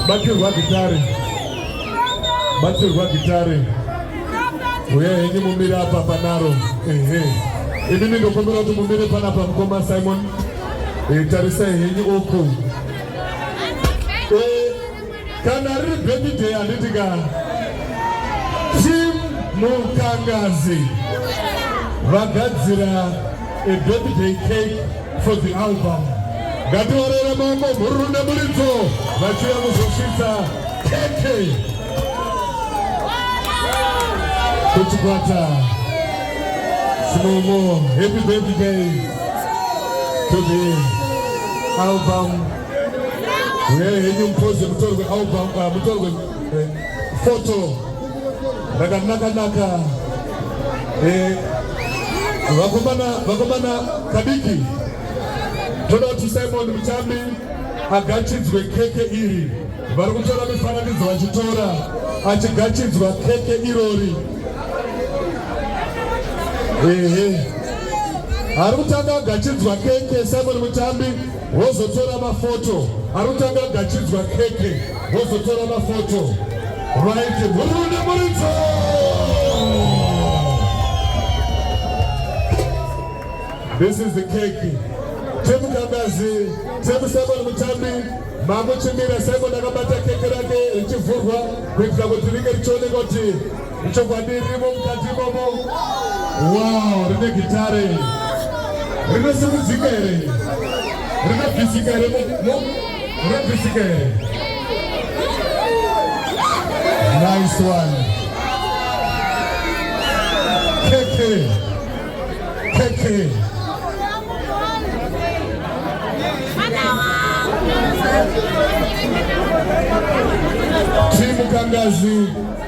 Batirwa gitare. Batirwa gitare. Uye henyu mumire apa panaro. Ehe. Ini ndingokumbira kuti mumire panapa mukoma Simon. Eh, tarisai henyu uku. Eh, kana riri birthday handiti ka Team Mukangazi vagadzira A birthday cake for the album. Ngatiorere maoko mhururu nemuridzo vachiuya kuzosvitsa keke kuchikwata sinomo. Happy birthday to the album. Uyai henyu mupoze mutorwe album, uh, mutorwe uh, photo rakanaka naka eh, vakomana vakomana kadiki toda kuti simon muchambi agachidzwe keke iri vari kutora mifananidzo vachitora achigachidzwa keke irori ehe ari kutanga agachidzwa keke simon muchambi Wozotora mafoto arutanga gachidzwa keke wozotora mafoto right murume muridzo This is the cake. Tebu Kambazi, Tebu Simon Mutambi, Mamu Chimira Simon akabata keke rake richivhurwa kuitira kuti ringe richioneka kuti Ichokwadi ririmo mukati imomo. Wow, rine gitare. Rinosimudzika here? Rinobvisika here? Rinobvisika here? Nice one. KK. KK. Timu Kangazi.